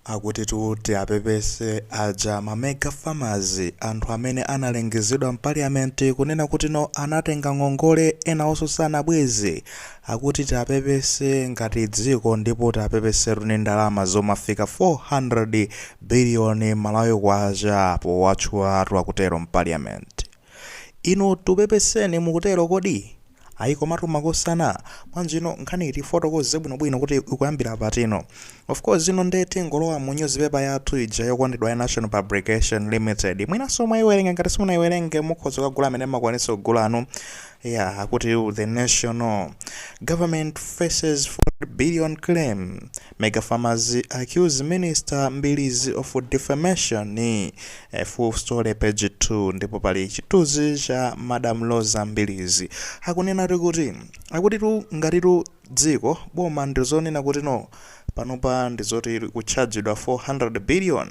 Akutitu tiapepese aja ma mega farmers anthu amene analengezedwa mpaliyament kunena kuti no anatenga ngongole enawonso sanabweze akuti tiapepese ngati dziko ndipo tiapepesetu ndi ndalama zomafika 400 billion malawi kwacha powatchulatu akutero mpaliyament. Inu tupepeseni mukutero kodi? Ayi komatu makosana. Bwanji no nkhaniyi tifotokoze bwinobwino kuti ikuyambira patino. Of course ino nde tingolowa mu newspaper yathu ija yokondedwa ya Nation Publications Limited. Mwinanso mwaiwerenga ngati simunaiwerenge mukhoza kukagula amene mmakwanitsa kugula anu. Ya akuti The National Government faces 400 billion claim. Mega Farmers accuse minister Mbilizi of defamation eh, full story page 2 ndipo pali chithunzi cha Madam Roza Mbilizi akunenatu kuti akutitu ngatitu dziko boma ndizonena kuti no panopa ndizoti likutchajidwa 400 billion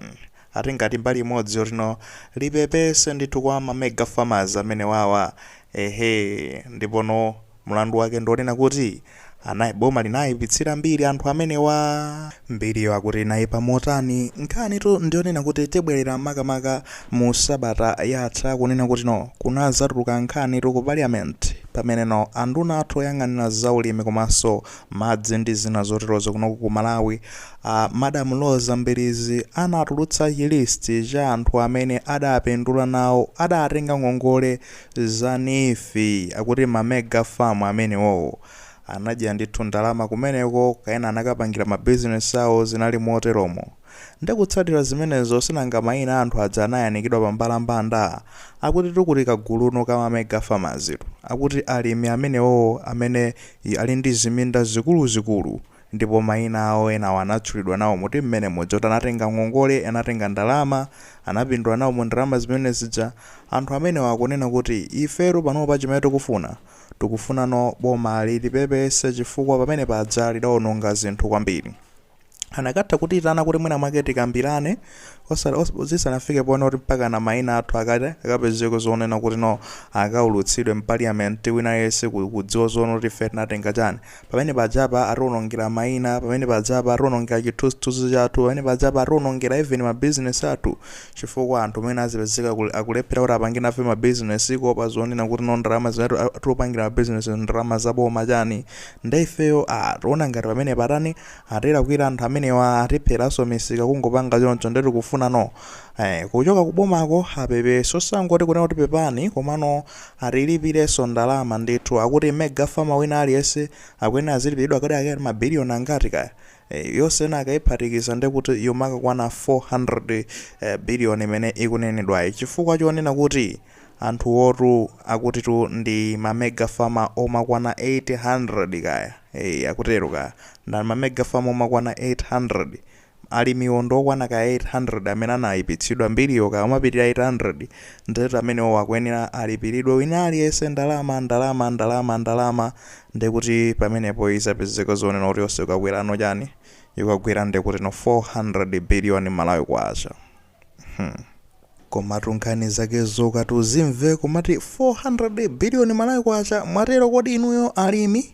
ati ngati mbali imodzi yoti no lipepese ndithu kwa ma mega farmers amene wawa ehe ndipo no Mlandu wake ndi onena kuti anai boma linaipitsira mbiri anthu amenewa. Mbiriyo akuti inaipa motani? Nkhanitu ndi yonena kuti tibwerera makamaka mu sabata yatha kunena kuti no kunadzatuluka nkhanitu ku parliament pamene no anduna athu oyang'anira za ulimi komanso madzi ndi zina zoterozo kunoko ku Malawi a Madam Roza Mbilizi anatulutsa chi list cha anthu amene adapindula nawo adatenga ngongole Za NEEF akuti ma mega farm amenewowo anadya ndithu ndalama kumeneko kaya ena anakapangira ma business awo zinali moteromo nde kutsatira zimenezo sinanga maina a anthu aja anayanikidwa pa mbalambanda akutitu kuli ka gulu no ka ma mega farmers tu akuti alimi amenewowo amene ali ndi ziminda zikuluzikulu ndipo maina awo enawo anatchulidwa nawo mu team mene muja kuti anatenga ngongole, anatenga ndalama, anapindula nawo mu ndalama zimene zija, anthu amenewa akunena kuti ifetu panopa chimene tikufuna, tikufunano boma litipepese chifukwa pamene paja lidaononga zinthu kwambiri. Anakatha kutiitana kuti mwina mwake tikambirane osati, os, zisanafike ponena kuti mpakana maina athu akata, akapezeke zonena kuti no akaulutsidwe m'paliyamenti wina aliyense ku, kudziwa zonena kuti ife tinatenga chani, pamene pajapa atiwonongera maina pamene pajapa atiwonongera chithunzithunzi chathu pamene pajapa atiwonongera even ma business athu chifukwa anthu amene azipezeka kul- akulephera kuti apange nafe ma business kuopa zonena kuti no ndalama zimene atu- atiupangira ma business ndalama zaboma chani nde ifeyo ah, tiona ngati pamene patani atilakwira anthu amenewa atipheranso misika kungopanga choncho nde tikufuna no eh, kuchoka kubomako apepese osangoti kunena kuti pepani komano atilipirenso ndalama ndithu akuti mega farmer wina aliyense akuyenera azilipiridwa kodi ake ma billion angati kaya e, yonse ena akayiphatikiza ndekuti yomakakwana 400 e, eh, billion imene ikunenedwayi chifukwa chonena kuti anthuwotu akutitu ndi ma mega farmer omakwana 800 kaya e, akutero kaya ndi ma mega farmer omakwana 800 Alimiwo ndi okwana ka 800 amene anayipitsidwa mbiriyo kaya omapitira 800 ndiyetu amenewowo akuyenera alipiridwe wina aliyense ndalama, ndalama, ndalama, ndalama ndiye kuti pamenepo izapezeka zonena kuti yonse ikakwerano chani? Ikakwera ndiye kutino 400 billion Malawi Kwacha. Hmm. Komatu nkhani zake zokati uzimve komati 400 billion Malawi kwacha mwatero kodi inuyo alimi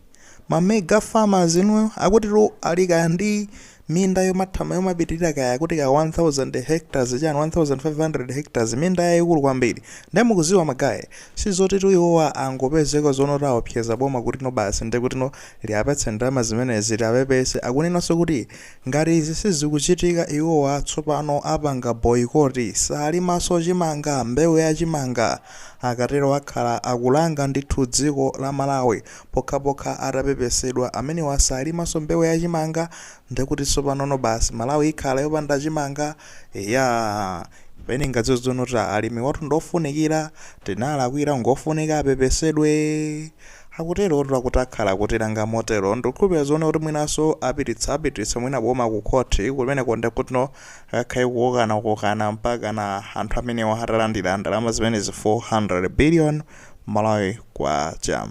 ma mega farmers inuyo akutitu ali kaya ndi minda yomathamanga yomapitirira kaya kuti ka 1000 hectares chani 1500 hectares minda yayikulu kwambiri ndiye mukuziwa magaye sizotitu iwowa angopezeka zonota aopseza boma kutino basi ndiye kutino liapatse ndalama zimenezi liapepese akunenanso kuti Ngati izi sizikuchitika iwowa tsopano apanga boyikoti, salimaso chimanga, mbewu ya chimanga, akatero akhala akulanga ndithu dziko la Malawi pokhapokha atapepesedwa, amenewa salimaso mbewu ya chimanga ndekuti tsopanono basi Malawi ikhala yopanda chimanga? Eya pena ungaziwa zonota alimiwatu ndi ofunikira, tinalakwira ngofunika apepesedwe. Akuterotu akuti akhala akutilanga motero ndikukhulupirira zonena kuti mwinanso apititsa apititsa mwina boma ku court kumeneko ndekutno kukakhale kukokana kukokana mpakana anthu amenewa atalandira ndalama zimenezi 400 billion Malawi kwacha.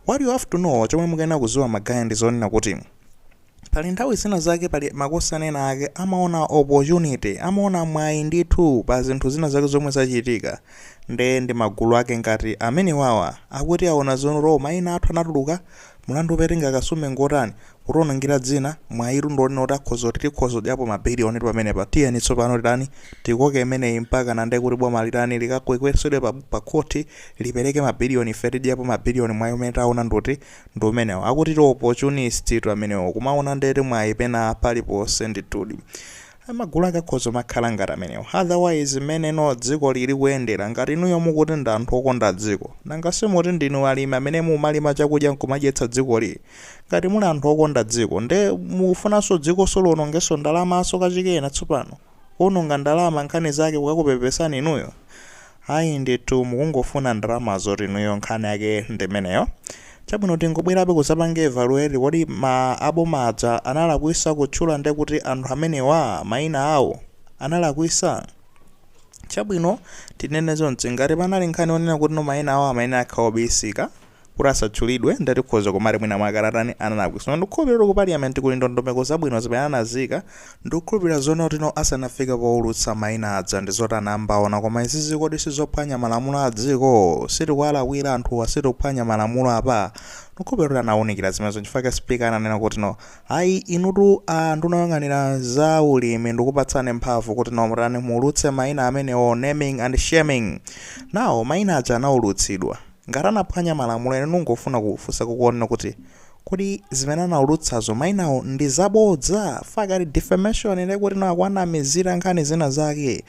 What you have to know chomwe mukuyenera kuziwa ma guy ndizonena kuti. pali nthawi zina zake pali makosana ena ake amaona opportunity amaona mwayi ndithu pa zinthu zina zake zomwe zachitika nde ndi magulu ake ngati amenewawa akuti aona zonota mayina athu anatuluka mlandu opetenga akasume ngotani, kutiwonongera dzina mwayitu ndi wonena kuti akhoza kuti tikhoza kudyapo mabiliyonitu pamenepa tiyeni tsopano titani tikoke imeneyi mpakana ndekuti boma litani likakwekwezedwe pa, pa khoti lipereke mabiliyoni ife tidyapo mabiliyoni mwayi umene taona ndoti ndi umenewo akutiti opportunist tu amenewo kumaona ndithu mwayi pena paliponse ndithudi magulu ake akhoza kumakhala ngati amenewo otherwise mmeneno dziko lili kuyendera ngati inuyo mukuti ndi anthu okonda dziko nanga simuti ndinu alimi amene mumalima chakudya nkumadyetsa dzikoli ngati muli anthu okonda dziko nde mukufunanso dzikolinso liwonongenso ndalamanso kachikena tsopano kuononga ndalama nkhani zake kukakupepesani inuyo ayi ndithu mukungofuna ndalama zoti inuyo nkhani yake ndimeneyo chabwino tingobwerabe kuzapanga evaluate kodi a boma aja analakwisa kutchula nde kuti anthu amenewa maina awo analakwisa chabwino tinene zonse ngati panali nkhani yonena kuti no maina awo amayenera akhaobisika kuti asatchulidwe nde tikhoza kumati mwina mwake atatani analakwisa ndikukhulupilira kuti ku parliament kuli ndondomeko zabwino zimene anazika ndikukhulupilira zona kuti no asanafike poulutsa maina aja ndizoti anambaona koma izizi kodi sizophwanya malamulo adziko sitikuwalakwira anthuwa sitikuphwanya malamulo apa ndikukhulupilira kuti anaunikira zimenezo nchifukwa chake speaker ananena kuti no ayi inutu a nduna yoyang'anira za ulimi ndikupatsani mphamvu kuti no mutani muulutse maina amenewo naming and shaming now maina aja anaulutsidwa Ngati anaphwanya malamulo ine ndingofuna kufunsa kukuona kuti kodi zimene anaulutsazo maina awo ndi zabodza fukwa kuti defamation ndiye kuti no akuwanamizira nkhani zina zake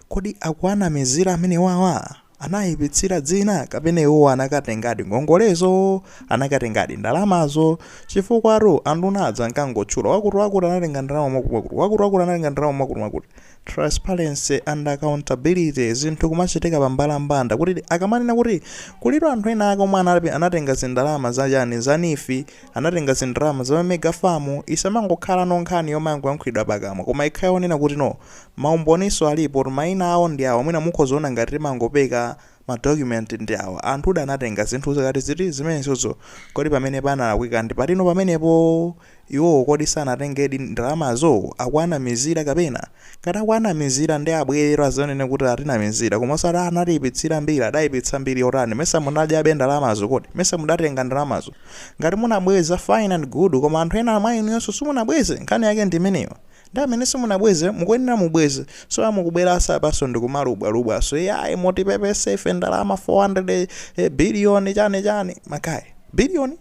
kodi akuwanamizira amenewawa anawayipitsira dzina kapena iwowo anakatengadi ngongolezo anakatengadi ndalamazo chifukwatu anduna aja ankangotchula wakuti wakuti anatenga ndalama mwakuti mwakuti wakuti wakuti anatenga ndalama mwakuti mwakuti transparency and accountability zinthu kumachitika pa mbalambanda kuti akamanena kuti kulitu anthu ena ake omwe anatenga zindalama za chani za NEEF anatenga zindalama za mega farm isamangokhala no nkhani yomangoyankhulidwa pakamwa koma ikhale onena kuti no maumboniso alipo kuti maina awo ndi awa mwina mukhozaona ngati timangopeka Ma document ndi awa. Anthu uja anatenga zinthu zakutizi? Zimenezozo. Kodi pamene panalakwika ndi pati no pamenepo? Iwowo kodi sanatengedi ndalamazo? Akuwanamizira kapena? Ngati akuwanamizira nde abweretu azanene kuti atinamizira koma osati a anatiipitsira mbiri. Adaipitsa mbiri yotani? Mesa munadyabe ndalamazo kodi? Mesa mudatenga ndalamazo? Ngati munabweza fine and good koma anthu ena mwa inuyonso simunabweze. Nkhani yake ndi imeneyo. Ndi amene simunabweze mukuyenera mubweze so ya mukubweranso apanso ndikumalubwalubwanso yayi mutipepese ife ndalama 400 eh, billion chani chani makayi billion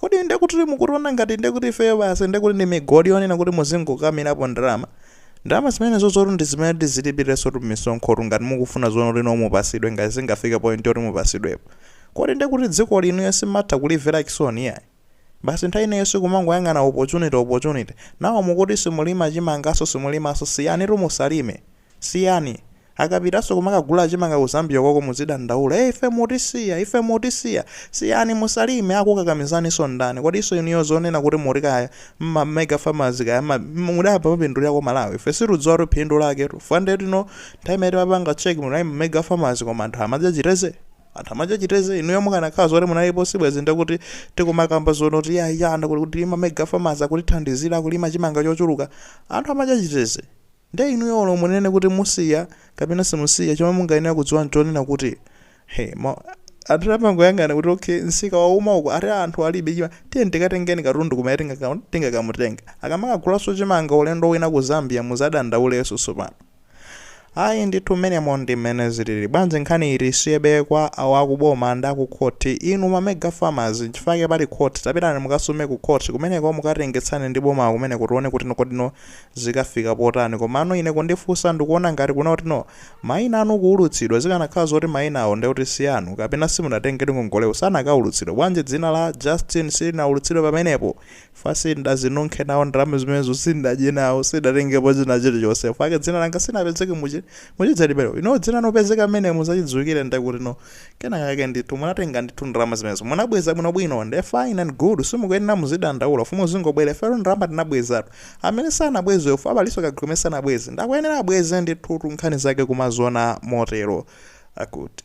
kodi ndekuti mukutiona ngati ndekuti ifeyo basi ndekuti ndi migodi yonena kuti muzingokamirapo ndalama ndalama zimenezo zoti ndi zimene tizilipirirenso tumisonkhotu ngati mukufuna zoona kuti no mupasidwe ngati zingafika point yoti mupasidwepo kodi ndekuti dziko lino simatha kulivera chisoni yayi Basi nthawi ina yonse kumangoyang'ana opportunity opportunity. Now mukuti simulima chimanganso simulimanso siyanitu musalime. Siyani. Akapitanso kumakagula chimanga ku Zambia koko muzidandaula ee ife mutisiya ife mutisiya. Siyani musalime akukukakamizaninso ndani? Kodinso inuyo zonena kuti muri kaya mma mega farmers kaya mma mudapanga mwapindulirako Malawi? Ife sitikudziwatu phindu laketu. Fukwa ndiye kuti no nthawi imene timapanga check munali mma mega farmers koma anthu amadya chiteze? Anthu amachita chiteze inuyo mukanakhala zoti munalipo sibwezi ndikuti tikumakamba zonoti ya ya ndikuti kuti ma mega farmers akutithandizira kulima chimanga chochuluka. Anthu amacha chiteze. Nde inuyo olo munene kuti musiya kapena simusiya chomwe mungayenera kudziwa nchonena kuti anthu amangoyang'ana kuti okay nsika wauma uku ati anthu alibe chimanga tiyeni tikatengeni katundu kumene tingaka- tingakamutenga. Akamakagulaso chimanga ulendo wina ku Zambia muzadandauleso sopano. ayi ndithu mmenemo ndi mmene zilili bwanji nkhani tiisiyebe kwa awo akuboma ndi akukhoti inu ma mega farmers nchifukwa chake pali khoti tapitani mukasume ku khoti kumeneko mukatengetsane ndi bomawo kumeneko kuti tione kutino kodino zikafika potani komano ine kundifunsa ndikuona ngati kunoko kutino maina anu kuulutsidwa zikanakhala zoti mainawo ndekuti si anu kapena simunatengedi ngongolewo sanakaulutsidwa bwanji dzina la Justin silinaulutsidwe pamenepo fa sindazinunkhe nawo ndalama zimenezo sindadye nawo sindatengepo china chilichonse fake dzina langa silinapezeke muchi muchidzalibero you know dzina lopezeka mmenemu zachidziwikire ndekuti no kena kake ndithu munatenga ndithu ndalama zimenezo munabweza bwinobwino nde fine and good simukuyenera muzidandaula fa muzingobwera ifeyo ndalama tinabwezatu amene sanabwezewo abalinso kagulu amene sanabweze ndakuyenera abweze ndithu nkhani zake kumaziona motero akuti